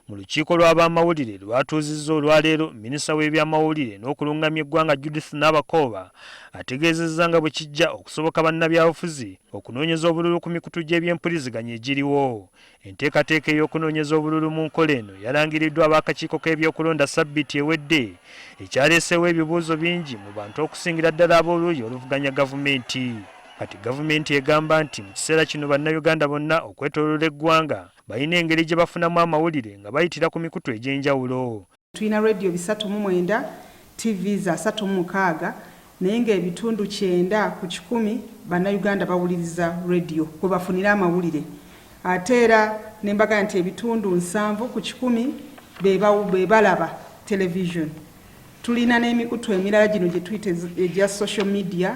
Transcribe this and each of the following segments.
Mu lukiiko lw'abamawulire lwatuuzizza olwaleero, minisita w'ebyamawulire n'okulungamya eggwanga Judith Nabakooba ategeezezza nga bwe kijja okusoboka bannabyabufuzi okunoonyeza obululu ku mikutu gy'ebyempuliziganya egiriwo. Enteekateeka ey'okunoonyeza obululu mu nkola eno yalangiriddwa ab'akakiiko k'ebyokulonda ssabbiiti ewedde, ekyaleeseewo ebibuuzo bingi mu bantu okusingira ddala ab'oluuyi oluvuganya gavumenti. Kati gavumenti egamba nti mu kiseera kino Bannayuganda bonna okwetooloola eggwanga balina engeri gye bafunamu amawulire nga bayitira ku mikutu egy'enjawulo. Tulina leediyo bisatu mu mwenda, ttivi za asatu mu mukaaga naye ng'ebitundu kyenda ku kikumi Bannayuganda bawuliriza leediyo kwe bafunira amawulire ate era ne mbaga nti ebitundu nsanvu ku kikumi be balaba televisioni. Tulina n'emikutu emirala gino gye tuyita egya social media.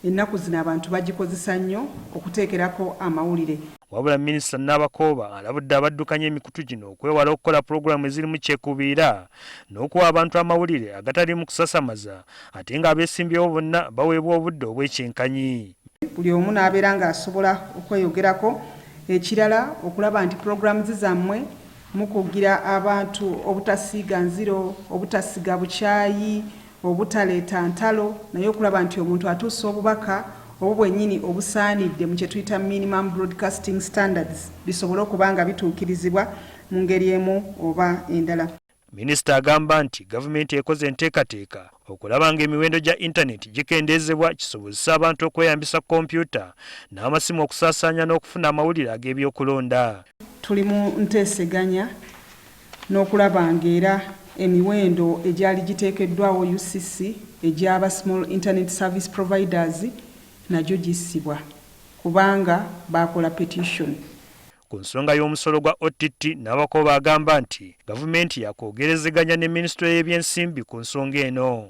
Ennaku zino abantu bagikozesa nnyo okuteekerako amawulire. Wabula Minisita Nabakooba alabudde abaddukanya emikutu gino okwewala okukola pulogulaamu ezirimu kyekubiira n'okuwa abantu amawulire agataliimu kusasamaza ate ng'abeesimbyewo bonna baweebwa obudde obwekyenkanyi. Buli omu n'abeera ng'asobola okweyogerako. Ekirala okulaba nti pulogulaamu zammwe mukugira abantu obutasiiga nziro, obutasiga bukyayi, obutaleeta ntalo naye okulaba nti omuntu atuusa obubaka obwo bwennyini obusaanidde mu kye tuyita minimum broadcasting standards bisobole okuba nga bituukirizibwa mu ngeri emu oba endala. Minisita agamba nti gavumenti ekoze enteekateeka okulaba ng'emiwendo gya intaneti gikendeezebwa kisobozese abantu okweyambisa kompyuta n'amasimu okusaasaanya n'okufuna amawulire ag'ebyokulonda. Tuli mu nteeseganya n'okulaba ng'era emiwendo egyali giteekeddwawo UCC egy'aba Small Internet Service Providers nagyo gissibwa kubanga baakola petition. Ku nsonga y'omusolo gwa OTT, Nabakooba agamba nti Gavumenti yakwogerezeganya ne Minisitule y'ebyensimbi ku nsonga eno.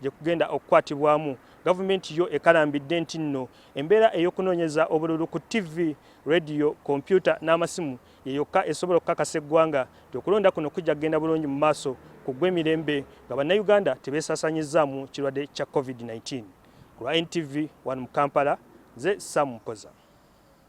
gye kugenda okukwatibwamu gavumenti yo ekalambidde nti nno embeera ey'okunoonyeza obululu ku ttivi leediyo kompyuta n'amasimu ye yokka esobola okukakasa eggwanga nti okulonda kuno kujja kugenda bulungi mu maaso ku gw'emirembe nga bannayuganda tebeesaasanyizzaamu kirwadde kya covid-19 ku lwa ntv wano mu kampala nze sam mpoza